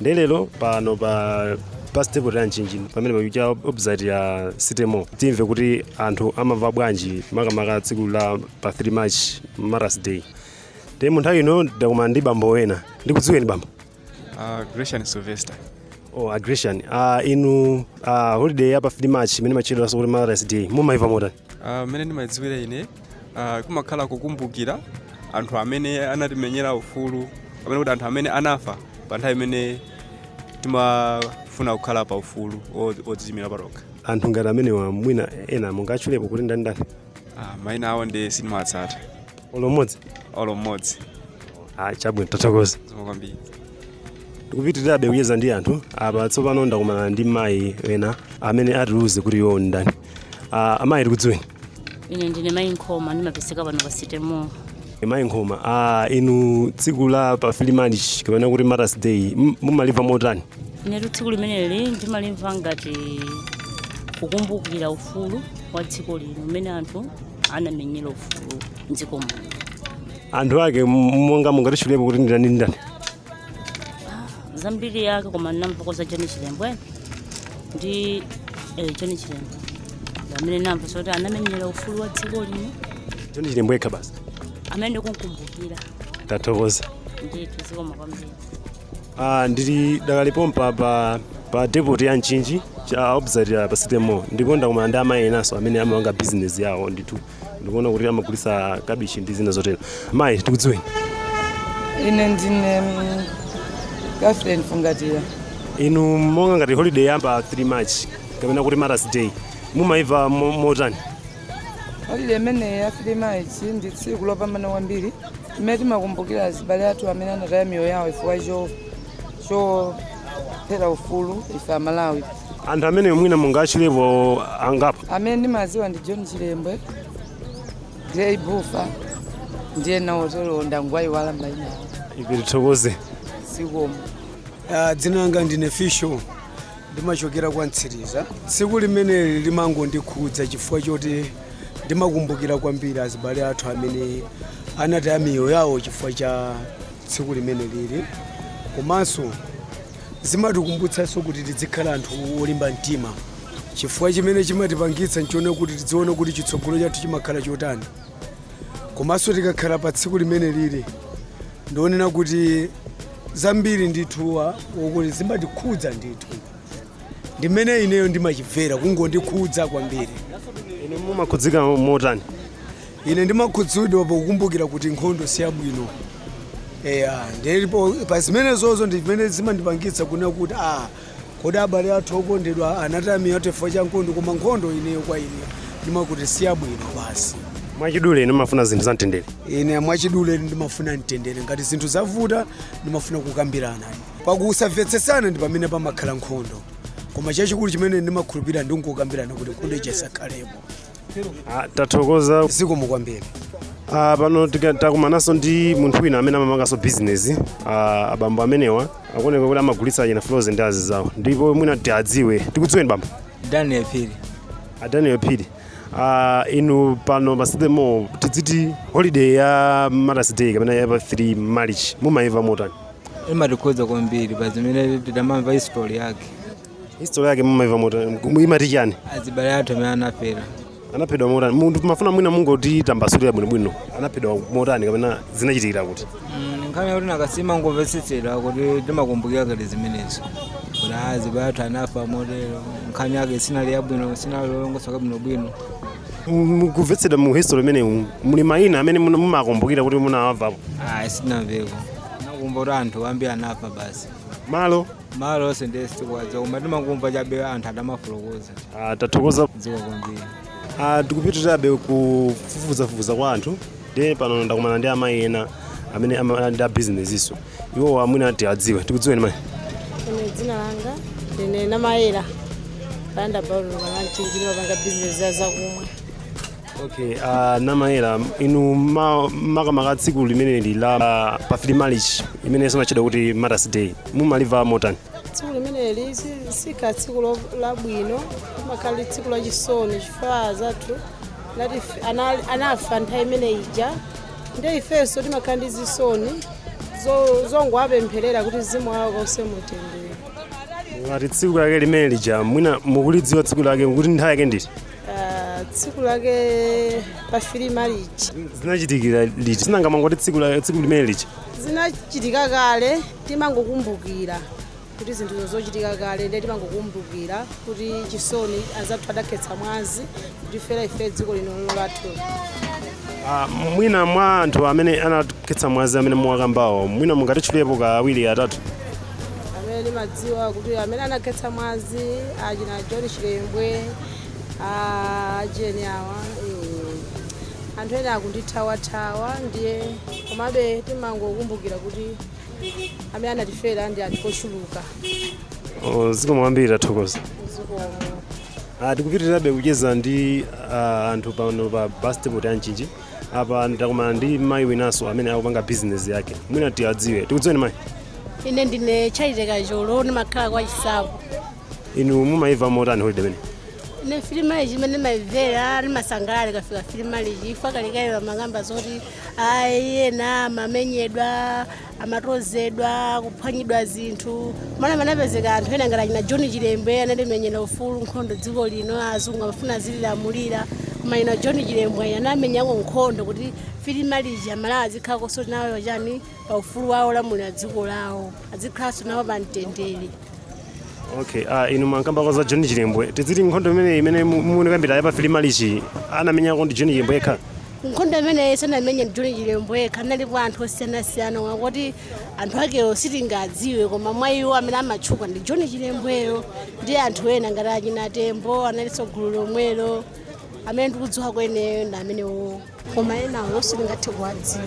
ndiye lero pano pa pa stage ya mchinji pamene pali cha opposite ya sitemo timve kuti anthu amamva bwanji makamaka tsiku la pa 3 march martyrs day nde mu nthawi ino ndakumana ndi bambo wena ndikudziweni bambo Uh, Gresham Sylvester. oh, a gresham uh, inu uh, holiday ya pa 3 march imene matchedwanso kuti martyrs day mumaimva motani Uh, mene ndimadziwira ine uh, kumakhala kukumbukira anthu amene anatimenyera ufulu kapena kuti anthu amene anafa pa nthawi imene timafuna kukhala pa ufulu o- odziimira patokha anthu ngati amenewa mwina ena mungatchulepo kuti ndani ndani Ah, maina awo nde sindimawatsata olo mmodzi olo mmodzi ah, chabwino tathokoza zikomo kwambiri tikupitirirabe kucheza ndi anthu apa tsopano ndakumana ndi mayi ena amene atiuze kuti iwo ndani ah, amayi tikudziweni ine ndine mayi nkhoma ndimapezeka pano pa sitemo mayi nkhoma ah, inu tsiku la pa 3 march kapena kuti martyrs day m- mumalimva motani inetu tsiku limeneli ndimalimva ngati kukumbukira ufulu wa dziko lino umene anthu anamenyera ufulu mdziko muno anthu ake m- monga mungatitchulepo kuti ndani ndani zambiri yake koma ndamvako za john chilembwe ndi eh, john chilembwe amene ndamva zoti anamenyera ufulu wa dziko lino john chilembwe yekha basi amene mukukumbukira tathokoza ndithu zikomo kwambiri Ah, ndili dakali pompa pa pa depot ya mchinji cha opposite ya pa sitemo ndipo ndakumana ndi amayi enanso amene amapanga business yawo ndithu ndikuona kuti amagulitsa kabichi ndi zina zotero mayi tikudziweni ine ndine mm, catherine fungatira inu monga ngati holiday ya pa 3 march kapena kuti martyrs day mumayimva mo- motani holiday imeneyi ya three march ndi tsiku lopambana kwambiri imene timakumbukira azibale athu amene anataya miyoyo yawo chifukwa cho chofera ufulu ife amalawi anthu amenewa mwina mungatchulepo angapo amene ndimadziwa ndi john chilembwe grey bufa ndi enawo ndangowayiwala maina awo ife tithokoze zikomo Ah, dzina langa ndine fisho ndimachokera kwa mtsiriza tsiku limeneli limangondikhudza chifukwa choti ndimakumbukira kwambiri azibale athu amene anataya miyoyo yawo chifukwa cha tsiku limeneli komanso zimatikumbutsanso kuti tidzikhala anthu olimba mtima chifukwa chimene chimatipangitsa nchonena kuti tidziona kuti chitsogolo chathu chimakhala chotani komanso tikakhala pa tsiku limeneli ndi onena kuti zambiri ndithu zokuti zimatikhudza ndithu ndimene ineyo ndimachimvera kungondikhudza kwambiri inu mumakhudzika motani Ine ndimakhudzidwa pokumbukira kuti nkhondo si yabwino. Eya, ndipo pa zimenezozo ndi zimene zimandipangitsa kunena kuti a kodi abale athu okondedwa anataya miyoyo chifukwa cha nkhondo, koma nkhondo ineyo kwa ine ndimaona kuti si yabwino basi. Mwachidule, inu mumafuna zinthu zamtendere. Ine mwachidule ndimafuna mtendere. Ngati zinthu zavuta, ndimafuna kukambirana. Pa kusamvetsetsana ndi pamene pamakhala nkhondo, koma chachikulu chimene ndimakhulupirira ndi kukambirana kuti nkhondo ija isakhalepo. Ah, tathokoza zikomo kwambiri Ah, pano tika- takumananso ndi munthu wina amene amapanganso bizinesi Ah, abambo amenewa akuoneka kuti amagulitsa achina frozen ndi azinzawo ndipo mwina ti adziwe tikudziweni bambo daniel phiri Ah, daniel phiri Ah, inu pano pasitemo tidziti holiday ya Martyrs day kapena ya pa 3 march mumaimva motani imatikhudza kwambiri pa zimene tidamamva history yake History yake mumaimva motani? Imati chani? azibale athu amene anafera Anaphedwa motani? Timafuna mwina mungotitambasulira bwinobwino. Anaphedwa motani kapena zinachitikira kuti? Mm, nkhani yakuti nanga si timangomvetsedwa kuti timakumbukira kale zimenezo kuti azibale athu anafa motero nkhani yake sinali yabwino sinali yolongosoka bwinobwino Mu kumvetsedwa mu history imeneyi muli mayina amene muna- mumakumbukira kuti munawamvapo. ayi sitinamveko tinangomva kuti anthu ambiri anafa basi Malo malo onse ndiye sitikuwadziwa koma timangomva chabe anthu akamafotokoza Ah, tathokoza zikomo kwambiri Ah, tikupitirizabe kufufuzafufuza kwa anthu ndiye pano ndakumana ndi amayi ena amene ama- ali ndi abizinesinso iwo mwina tiwadziwe tikudziweni mayi ine dzina langa ndine namayera panda paulo panga mchinji ndimapanga bizinesi ya zakumwa okay uh, namayera inu ma- makamaka tsiku limeneli la la pa 3 march imene imatchedwa kuti Martyrs day mumalimva motani tsiku limeneli si- sikhala tsiku lo- labwino limakhala tsiku lachisoni chifukwa anzathu anatife- ana- anafa nthawi imene ija nde ifenso timakhala ndi zisoni zo- zongowapempherera kuti mzimu wawo ukause mumtendere ngati tsiku lake limene lija mwina mukulidziwa tsiku lake kuti nthawi yake ndi iti Ah, tsiku lake pa 3 march zinachitikira liti si nanga mangoti tsiku la- tsiku limene lija zinachitika kale timangokumbukira kuti zinthu zochitika kale ndiye timangokumbukira kuti chisoni anzathu adakhetsa mwazi kutifera ife dziko lino lino lathu Ah, mwina mwa anthu amene anakhetsa mwazi amene muwakambawo mwina mungatitchulepo kaya awiri atatu amene mumadziwa kuti amene anakhetsa mwazi achina john chilembwe Ah, ujeni awa eh, anthu ena akundithawathawa ndiye komabe timangokumbukira kuti amene anatifera ndi anthu ochuluka Oh, zikomo kwambiri tathokoza zikomo Ah, tikupitirirabe kucheza ndi ah, anthu pano pa bus depot ya mchinji apa ndakumana ndi mayi winanso amene akupanga bizinesi yake mwina tiadziwe tikudziweni mayi ine ndine chaiteka cholo ndimakhala kwa chisapo inu mumaimva motani holiday imene ine 3 Malichi mmene ndimaimvera ndimasangalala ikafika 3 Malichi chifukwa kalekale amankamba zoti ayi ena amamenyedwa amatozedwa kuphwanyidwa zinthu koma anapezeka anthu ena ngati achina john chilembwe anatimenyera ufulu nkhondo dziko lino azungu amafuna azililamulira koma iwo john chilembwe ayi anamenyako nkhondo kuti 3 Malichi amalawi azikhalanso nawo chani pa ufulu wawo wolamulira dziko lawo azikhalanso nawo pa mtendere okay ah inu mwakambako za john chilembwe tiziti nkhondo imene imene mu- mukuikambira ya pa 3 Malichi anamenyako ndi john chilembwe yekha nkhondo imeneyi sanamenye john chilembwe yekha analipo anthu osiyanasiyana oti anthu akewo sitingadziwe koma mwa iwo amene amatchuka ndi john chilembweyo ndi anthu ena ngati achina tembo analinso gulu lomwelo amene ndikudziwa kwa ineyo ndi amenewo koma enawo sitingathe kuwadziwa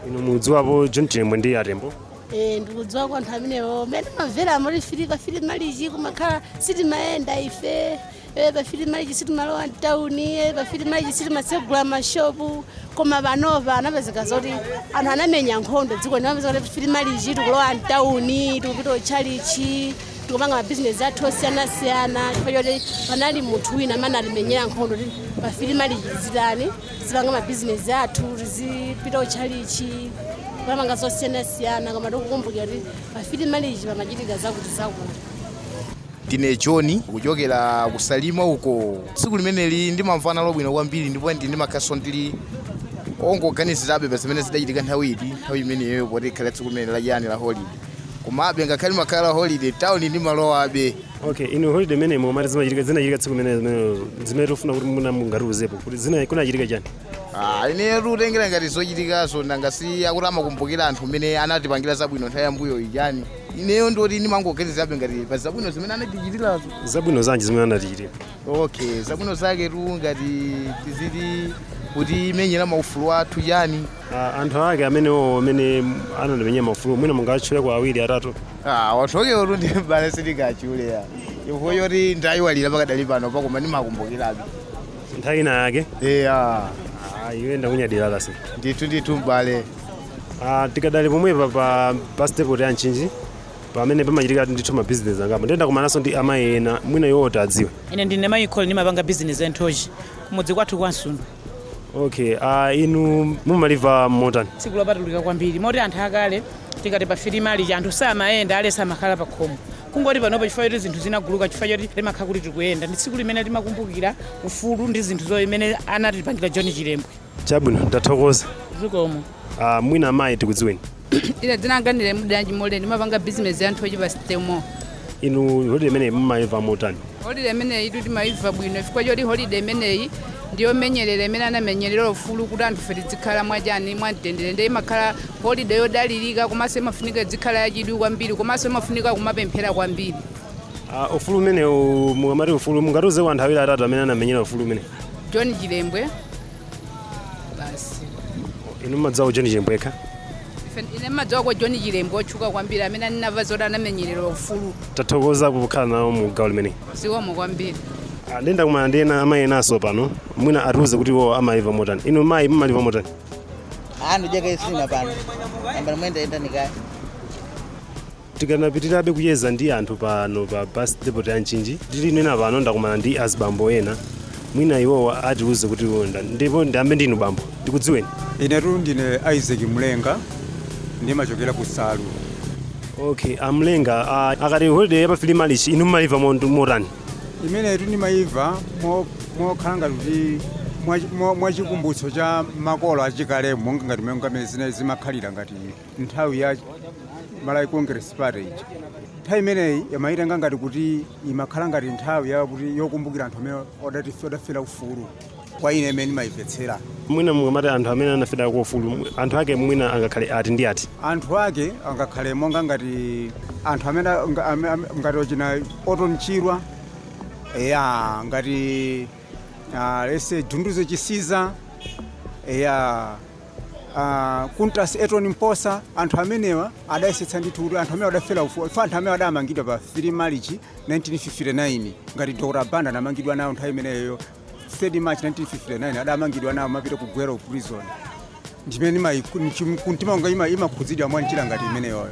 inu mudziwapo john chilembwe ndi atembo Eh, ndikudziwa kwa anthu amenewo mmene timamvera muja 3 pa 3 Malichi kumakhala sitimayenda ife eh, pa 3 Malichi sitimalowa mtauni eh, pa 3 Malichi sitimatsegula mashopu koma panopa anapezeka zoti anthu anamenya nkhondo dziko lino anapezeka kuti 3 Malichi tikulowa mtauni tikupita kutchalichi tikupanga mabizinesi athu osiyanasiyana chifukwa choti panali munthu wina amene anatimenyera nkhondo kuti pa 3 Malichi tizitani tizipanga mabizinesi athu tizipita kuchalichi kupanga zosiyanasiyana koma tikukumbukira kuti pa 3 Malichi pamachitika zakuti zakuti ndine john kuchokera ku salima uko tsiku limeneli ndimamvana nalo bwino kwambiri ndipo ndi ndimakhalanso ndikungoganizirabe pa zimene zidachitika nthawi iti nthawi imeneyo poti limakhala tsiku limene lachiyani la holiday komabe ngakhale imakhala holiday town ndimalowabe okay inu holiday imene mumati zimachitika zinachitika tsiku limene limene- zimene tikufuna kuti muna mungatiuzepo kuti zina kunachitika chani Ah, ine kutengera ngati zochitikazo nanga si akuti amakumbukira anthu amene anatipangira zabwino nthawi yambuyo ija ineyo ndoti ndimangoganizabe ngati pa zabwino zimene anatichitirazo zabwino zanji zimene anatichitira okay zabwino zaketu ngati tiziti kutimenyera maufulu athu chani Ah, anthu ake amenewo amene anatimenyera maufulu mwina mungatchuleko awiri atatu Ah, anthu akewotu ndi m'bale sindingatchule eya chifukwa choti ndayiwalira pakadali pano koma ndimakumbukirabe nthawi ina yake eya Ah, iwe ndakunyadira kasi ndithu ndithu m'bale Ah, tikadali pomwepa pa bus depot ya Mchinji pamene pamachitika ndithu mabizinesi angapo ndiye ndakumananso ndi amayi ena mwina iwo tiwadziwe ine ndine mayi Kolo ndimapanga bizinesi ya nthochi kumudzi kwathu kwa msundu okay uh, inu mumaliva motani tsiku lopatulika kwambiri moti anthu akale tikati pa 3 March anthu samayenda aliyense amakhala pa khomo kungoti panopo chifukwa choti zinthu zinaguluka chifukwa choti timakhala kuti tikuyenda ndi tsiku limene timakumbukira ufulu ndi zinthu zimene anatipangira john chilembwe chabwino ndathokoza zikomo uh, mwina amayi tikudziweni ine dzina langa ndine mudanji mole ndimapanga bizinesi ya nthochi pa stemo inu holiday imeneyi mumayimva motani holiday imeneyitu timayimva bwino chifukwa choti holiday imeneyi ndiyomenyerera imene anamenyerera ufulu kuti anthufe tidzikhala mwachani mwamtendere ndiye imakhala holiday yodalirika komanso imafunika idzikhala yachidwi kwambiri komanso imafunika kumapemphera kwambiri Ah, ufulu umenewu mukamati ufulu mungatiuzeko anthu awiri atatu amene anamenyera ufulu umenewu john chilembwe basi inu mmadziwako john chilembwe yekha Ife- ine mmadziwako john chilembwe otchuka kwambiri amene anava zoti anamenyerera ufulu tathokoza kukhala nawo mu gawo limeneli zikomo kwambiri Ah, nde ndakumana ndi ena amayi enanso pano mwina atiuze kuti iwo amaliva motani inu mayi mmaliva motani anthu jaka isina pano ambala mwenda enda nikaya Tikanapitirirabe kucheza ndi anthu pano pa bus depot ya Mchinji, ndikunena pano ndakumana ndi azibambo ena, mwina iwowa atiuze kuti iwo ndani. Ndipo ndiyambe ndinu bambo, ndikudziweni? Inetu ndine Isaac Mlenga, ndimachokera ku Nsalu. Okay, a Mlenga, a akati holiday ya pa 3 March inu mmayiva mont- motani? Imenetu ndimayiva mo- mokhala ngati kuti mwa- mwa- mwachikumbutso cha makolo achikale monga ngati mmene ngamene zina zimakhalira ngati nthawi ya Malawi Congress Party ija. Nthawi imeneyi ndimayitenga ngati kuti imakhala ngati nthawi yakuti yokumbukira anthu amene odati- odafera ufulu kwa ine ndi mmene ndimayimvetsera mwina mukamati anthu amene anaferako ufulu anthu ake mwina angakhale ati ndi ati anthu ake angakhale monga ngati anthu amene nga- ame- ame- ngati achina Orton Chirwa eya ngati ah, late Dunduzu Chisiza eya a Kuntas Eton Mposa, anthu amenewa adayesetsa ndithu kuti anthu amene adafera ufulu ife anthu amene adamangidwa pa 3 March 1959 ngati Dr. Banda anamangidwa nawo nthawi imeneyo 3 March 1959 adamangidwa nawo anapita ku Gwero prison ndimene ndimayi- nchim- kumtima wanga ima- imakhudzidwa mwa njira ngati imeneyoyo